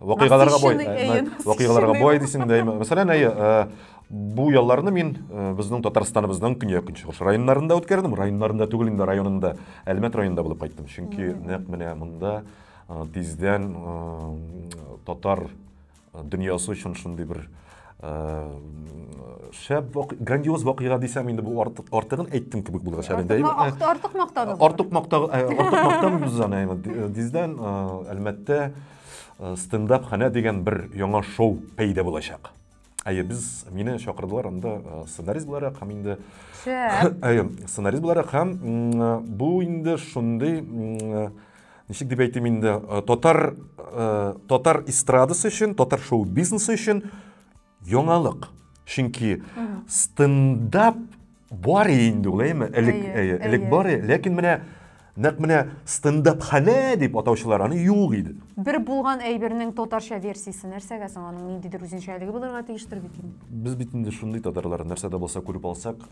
вакыйгаларга бай вакыйгаларга бай дисең дә мәсәлән әйе бу ялларны мин безнең татарстаныбызның көньяк көнчыгыш районнарында үткәрдем районнарында түгел инде районында әлмәт районында булып кайттым чөнки нәкъ менә монда тиздән татар дөньясы өчен шундый бер шәп грандиоз вакыйга дисәм инде бу артык артыгын әйттем кебек булыр шәбендә артык мактау артык мактау артык мактамыйбыз аны диздән әлмәттә стендап ханә дигән бер яңа шоу пәйдә булачак әйе без мине чакырдылар анда сценарист буларак һәм инде әйе сценарист буларак һәм бу инде шундый ничек дип әйтим инде э, татар э, татар эстрадасы өчен татар шоу бизнесы өчен яңалык чөнки стендап бар инде ул әйме элек элек бар ләкин менә нәкъ менә стендап хәнә дип атаучылар аны юк иде бер булган әйбернең татарча версиясе нәрсәгә соң аның ниндидер үзенчәлеге булырга тиештер бит инде без бит инде шундый татарлар нәрсә дә булса күреп алсак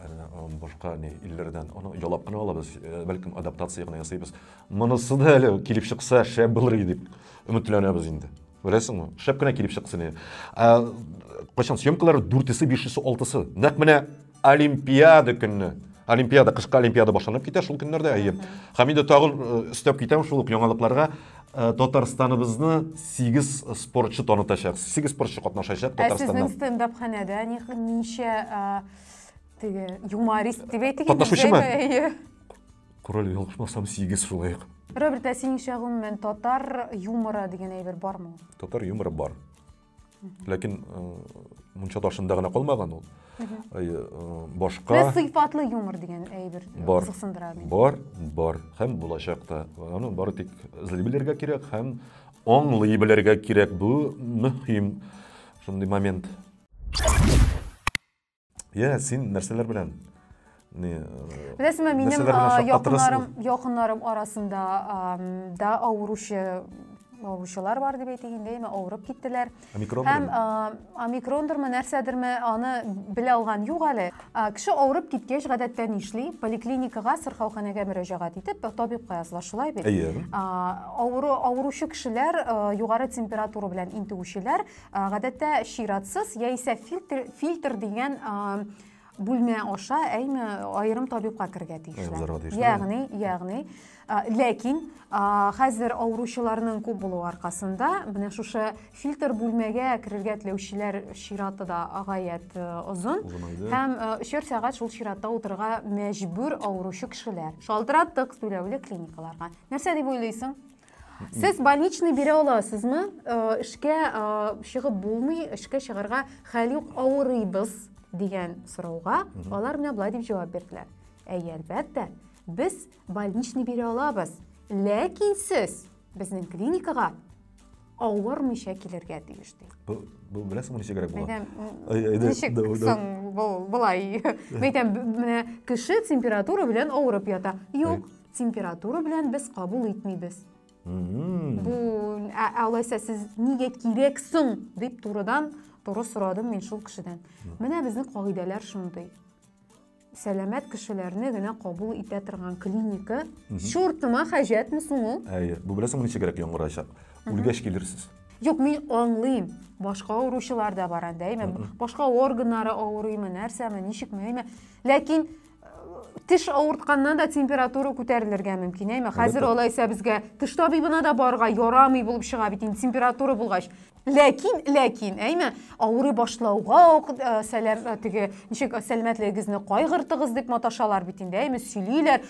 башка не илләрдән аны ялап кына алабыз бәлкем адаптация гына ясыйбыз Монысы да әле килеп чыкса шәп булыр иде дип өметләнәбез инде. Беләсеңме? Шәп кенә килеп чыксын иде. Кайчан съемкалар 4-се, 5-се, 6-сы. Нәкъ менә Олимпиада көнне. Олимпиада, кышкы Олимпиада башланып китә шул көннәрдә, әйе. Һәм инде тагын өстәп китәм шул ук яңалыкларга. Татарстаныбызны 8 спортчы танытачак. 8 спортчы катнашачак Татарстаннан. Ә сезнең стендап-ханәдә ничә теге юморист дип әйтик. Катнашучымы? Король ялгышмасам сигез шулай ук. Роберт, ә синеңчә гомумән татар юморы дигән әйбер бармы ул? Татар юморы бар. Ләкин э, мунча ташында гына калмаган ул. Э, башка Менә сыйфатлы юмор дигән әйбер бар. кызыксындыра мине. Бар, бар һәм булачак та. Аны бары тик эзли белергә кирәк һәм аңлый белергә кирәк. Бу мөһим шундый момент. иә сен нәрселер белән не беләсең бе минем якыннарым якыннарым арасында да авыручы авыручылар бар дип әйтик инде яме авырып киттеләр һәм омикрондырмы нәрсәдерме аны белә алган юк әле кеше авырып киткәч гадәттә нишли поликлиникага сырхауханәгә мөрәҗәгать итеп табибка языла шулай бит әйе авыру авыручы кешеләр югары температура белән интегүчеләр Гадәттә чиратсыз яисә фильтр, фильтр дигән бүлмә аша әйме аерым табибка керергә тиешләр. Ягъни, ягъни ләкин хәзер авыручыларның күп булу аркасында менә шушы фильтр бүлмәгә керергә теләүчеләр чираты да гаять озын һәм өчәр сәгать шул чиратта утырырга мәҗбүр авыручы кешеләр шалтыраттык түләүле клиникаларга нәрсә дип уйлыйсың Сез больничный бирә аласызмы? Э, эшкә э, чыгып булмый, эшкә чыгарга хәл юк, авырыйбыз дигән сорауга алар менә былай дип җавап бирделәр. Әйе, әлбәттә, без больничный бирә алабыз, ләкин сез безнең клиникага авырмыйча килергә тиеш ди. Бу бу беләсеңме ничегрәк була? Әйдә, ничек соң бу былай? Мәйтәм, менә кеше температура белән авырып ята. Юк, Температура белән без кабул итмибез. Бу ә, алайса сез нигә кирәк соң дип турыдан туры сорадым мин шул кешедән. Менә безнең кагыйдәләр шундый. Сәламәт кешеләрне генә кабул итә торган клиника. Чуртыма хаҗәтме соң ул? Әйе, бу беләсеңме ничегрәк яңгырачак? Үлгәч килерсез. Юк, мин аңлыйм. Башка авыручылар да бар анда, әйме? Башка органнары авырыймы, нәрсәме, ничекме, әйме? Ләкин теш авыртканнан да температура күтәрелергә мөмкин әйме хәзер алайса безгә теш табибына да барырга ярамый булып чыга бит инде температура булгач ләкин ләкин әйме авырый башлауга ук э, сәләм э, теге ничек э, сәламәтлегегезне кайгыртыгыз дип маташалар бит инде әйме сөйлиләр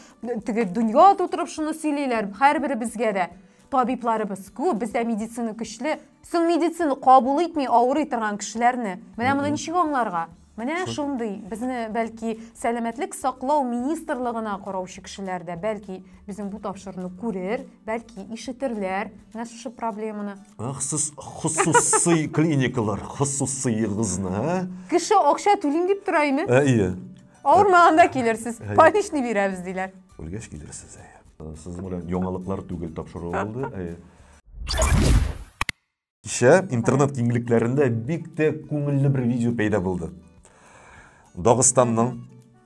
теге дөнья тутырып шуны сөйлиләр һәрберебезгә дә табибларыбыз күп, бездә медицина көчле. Соң медицина кабул итми авырый торган кешеләрне. Менә моны ничек аңларга? Менә шундый безне бәлки сәламәтлек саклау министрлыгына караучы кешеләр дә бәлки безнең бу тапшыруны күрер, бәлки ишетерләр менә шушы проблеманы. Хусус хусусый клиникалар, хусусыегызны, ә? Кеше акча түлим дип тора име? Әйе. Авырмаганда килерсез. Больничный бирәбез диләр. Үлгәч килерсез, әйе. Сезнең белән яңалыклар түгел тапшыру булды. Кичә интернет киңлекләрендә бик тә күңелле бер видео пәйда булды. Дагыстанның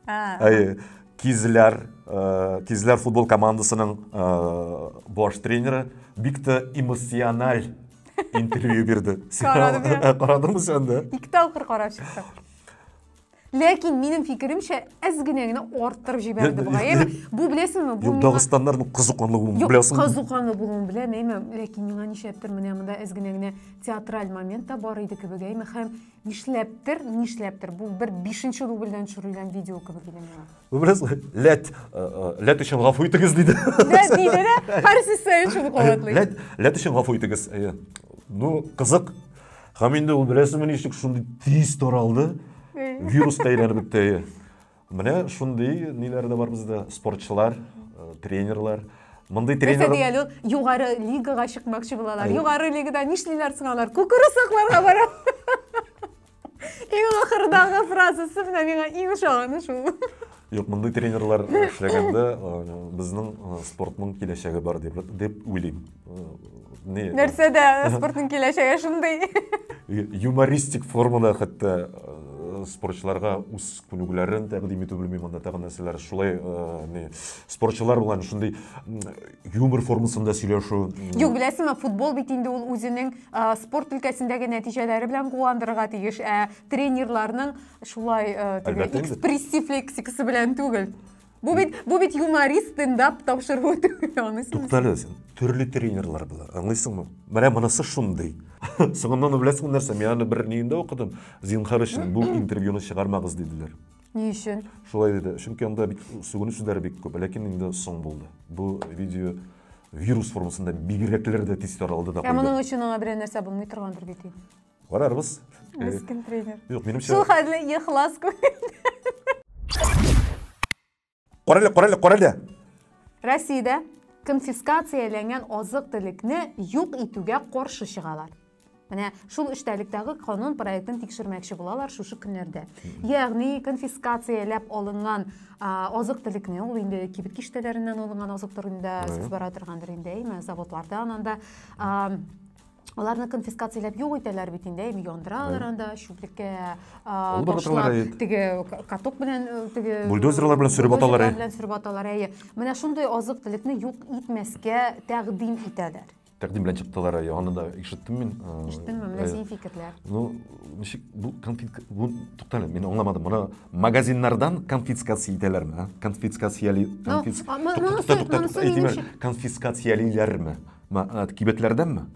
әйе, Кизләр, Кизләр футбол командасының баш тренеры бик тә эмоциональ интервью бирде. Карадым сәндә. Ике тапкыр карап чыктым. Ләкин минем фикеремчә, әз генә генә арттырып җибәрде бугай. Әйме, бу беләсеңме? Бу Юк, дагыстаннарның кызыканлы булуын беләсеңме? Юк, кызыканлы булуын беләм, әйме, ләкин миңа нишләптер менә монда әз генә генә театраль момент та бар иде кебек, әйме, һәм нишләптер, нишләптер, бу бер бишенче дубльдән төшерелгән видео кебек иде миңа. Бу беләс, ләт, э, э, ләт өчен гафу итегез диде. Ләт диде дә, һәр сүз сәен шуны кабатлый. Ләт, ләт өчен гафу итегез. Э, ну, кызык, Һәм инде ул беләсеңме ничек шундый тиз таралды, вируска әйләнеп бетте. Менә шундый ниләр дә бар бездә, спортчылар, э, тренерлар. Мондый тренер... Нәрсә дигән ул, югары лигага чыкмакчы булалар. Югары лигада нишлиләр соң алар? Күкүрү сакларга бара. Иң ахырдагы фразасы менә миңа иң ошаганы шул. Юк, мондый тренерлар эшләгәндә безнең спортның киләчәге бар дип дип уйлыйм. Не. Нәрсәдә спортның киләчәге шундый? Юмористик формада хәтта спортчыларга үз күнегүләрен тәкъдим итү белмим анда тагын нәрсәләр шулай э, не спортчылар белән шундый юмор формасында сөйләшү юк беләсеңме футбол бит инде ул үзенең э, спорт өлкәсендәге нәтиҗәләре белән куандырырга тиеш ә тренерларның Шулай теге экспрессив лексикасы белән түгел. Бу бит бу бит юморист стендап тапшыруы түгел, аны син. Туктале, төрле тренерлар була. Аңлыйсыңмы? Менә монысы шундый. Соңыннан беләсең нәрсә, мин аны бер ниендә укыдым. Зинхар өчен бу интервьюны чыгармагыз диделәр. Ни өчен? Шулай диде. Чөнки анда бик сүгенү сүзләре бик күп, ләкин инде соң булды. Бу видео вирус формасында бигрәкләр дә тиз таралды да. Ә моның өчен аңа берәр нәрсә булмый торгандыр бит. Карарбыз. Мескен тренер. Юк, минемчә... Шул хәтле ихлас күңелдән. Карале, карале, карале. Россиядә конфискацияләнгән азык-төлекне юк итүгә каршы чыгалар. Менә шул эчтәлектәге канун проектын тикшермәкче булалар шушы көннәрдә. Ягъни конфискацияләп алынган азык-төлекне, ул инде кибет киштәләреннән алынган азык-төлекне сез бара торгандыр инде, әйме, заводлардан анда аларны конфискацияләп юк итәләр бит инде әйме яндыралар анда чүплеккә ташлап теге каток белән теге бульдозерлар белән сөреп аталар белән сөреп аталар әйе менә шундый азык төлекне юк итмәскә тәкъдим итәләр тәкъдим белән чыктылар әйе аны да ишеттем мин ишеттеңме менә синең фикерләр ну ничек бу конфит бу туктале мин аңламадым моны магазиннардан конфискация итәләрме конфискацияле конфискациялиләрме Ма, ә, кибетләрдәнме?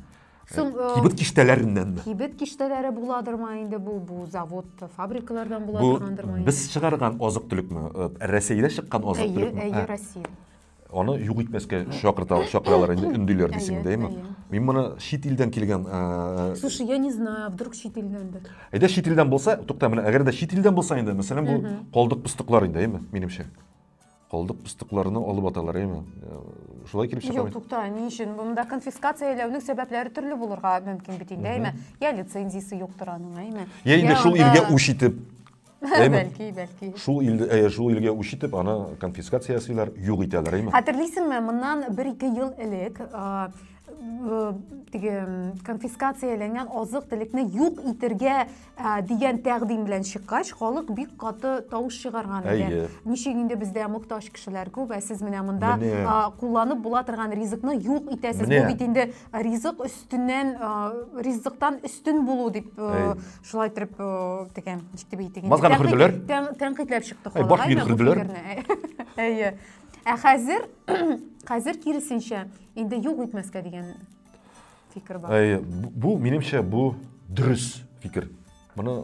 Сум, э, Кибет киштәләреннәнме? Кибет киштәләре буладыр ма инде бу, бу завод, фабрикалардан була Бу торгандыр ма? без чыгарган азык төлекме? Э, Рәсәйдә чыккан азык Әйе, төлекме? әйе, Россия. Аны юк итмәскә чакырта, чакыралар инде, өндиләр дисең дә, әйме? Мин моны чит илдән килгән... Э, Слушай, я не знаю, вдруг чит илдәндер. Әйдә чит илдән булса, тукта, менә әгәр дә чит илдән булса инде, мәсәлән, бу калдык-пыстыклар инде, әйме, минемчә. Калдык пыстыкларны алып аталар, әйме? Э, шулай килеп чыга. Юк, тукта, ни өчен? Монда конфискацияләүнең сәбәпләре төрле булырга мөмкин бит инде, әйме? Я лицензиясе юктыр аның, әйме? Я инде шул илгә үч итеп. Бәлки, бәлки. Шул илдә, э, шул илгә үч итеп, аны конфискация ясыйлар, юк итәләр, әйме? Хәтерлисеңме, моннан 1-2 ел элек теге конфискацияләнгән азык-төлекне юк итергә Ә, дигән тәкъдим белән чыккач, халык бик каты тавыш чыгарган иде. Әйе. Ничек инде бездә мохтаҗ кешеләр күп, ә сез менә монда Менә. а, кулланып була торган ризыкны юк итәсез. Менә. Бу бит инде ризык өстеннән, а, ризыктан өстен булу дип э, Әй. шулай итеп э, тегән, ничек дип әйтик инде. Мазганы Тәнкыйть- хөрделәр. тән- Тәнкыйтьләп чыкты халык. баш миен әйме, бу хөрделәр. фикерне. Әй- Әйе. Ә хәзер хәзер киресенчә инде юк итмәскә дигән фикер бар. Э, бу, минемчә, бу дөрес фикер. Моны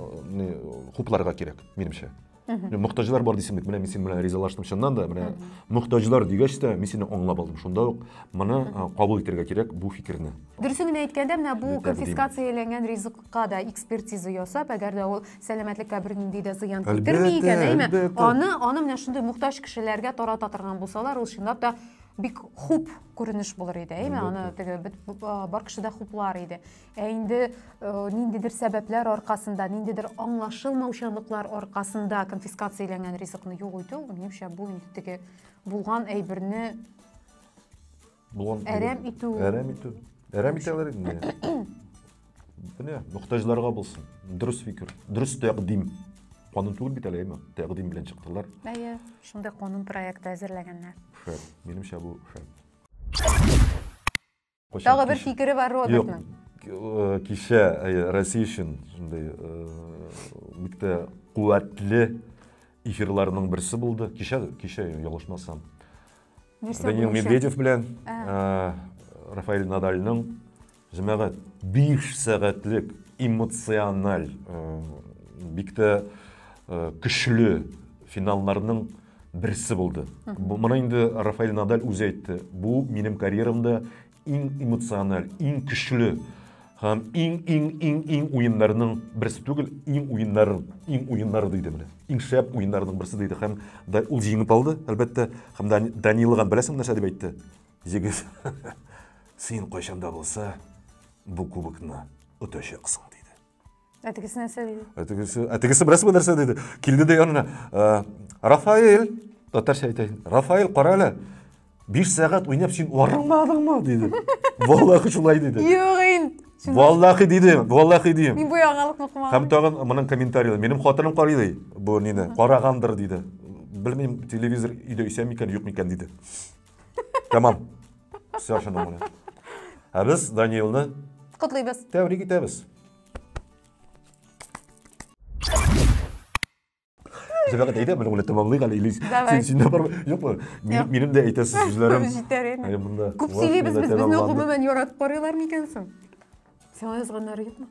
э, хупларга кирәк, минемчә. Мөхтаҗлар бар дисең бит, менә мин синең белән ризалаштым чыннан да, менә мөхтаҗлар дигәч тә, мин сине аңлап алдым. Шунда ук моны э, кабул итәргә кирәк бу фикерне. Дөресен генә әйткәндә, менә бу конфискацияләнгән ризыкка да экспертиза ясап, әгәр дә ул сәламәтлеккә бернинди дә зыян китерми икән, әйме? Аны, аны менә шундый мөхтаҗ кешеләргә тарата торган булсалар, ул чынлап та бик хуп күренеш булыр иде әйме аны теге бар кеше дә хуплар иде ә инде ниндидер сәбәпләр аркасында ниндидер аңлашылмаучанлыклар аркасында конфискацияләнгән ризыкны юк итү минемчә бу инде теге булган әйберне әрәм итү әрәм итү әрәм итәләр инде Менә, мөхтәҗләргә булсын. Дөрес фикер, дөрес тәкъдим. Канун түгел бит әле, әйме? Тәкъдим белән чыктылар. Әйе, шундый канун проекты әзерләгәннәр. Шәп, минемчә бу шәп. Тагы бер фикере бар Робертның. Э, кичә э, Россия өчен шундый бик э, тә куәтле эфирларның берсе булды. Кичә, кичә ялгышмасам. Данил Медведев белән Рафаэль Надальның Җәмәгать, биш сәгатьлек эмоциональ, бик тә көчле финалларның берсе булды. Моны инде Рафаэль Надаль үзе әйтте. Бу минем карьерамда иң эмоциональ, иң көчле һәм иң иң иң иң уеннарның берсе түгел, иң уеннар, иң уеннары диде менә. Иң шәп уеннарның берсе диде һәм ул җиңеп алды, әлбәттә, һәм Данилован беләсең нәрсә дип әйтте? Җегет, син кайчан да булса бу кубокны отачаксың, диде. Ә тегесе нәрсә диде? Ә тегесе, ә тегесе берәрсе нәрсә диде. Килде дә янына. «Ә, Рафаэль, татарча әйтәйин. Рафаэль, кара әле. 5 сәгать уйнап син арымадыңмы? диде. Валлахи шулай диде. Юк инде. Валлахи диде, валлахи дим. Мин бу яңалыкны кумадым. Һәм тагын моның комментарийлары. Минем хатыным карый ди, бу нине, карагандыр диде. Белмим, телевизор өйдә исән микән, юк микән диде. Тәмам. Все шуның белән. Ә без Данилны котлыйбыз. Тәбрик итәбез. Зөбәгәт әйдә, менә уны тәмамлыйк әле, Илис. Син синдә бар юкмы? Минем минем дә әйтәсе сүзләрем. Җитәр инде. Күп сөйлибез без, безне гомумән яратып карыйлар микән соң? Сиңа язганнары юкмы?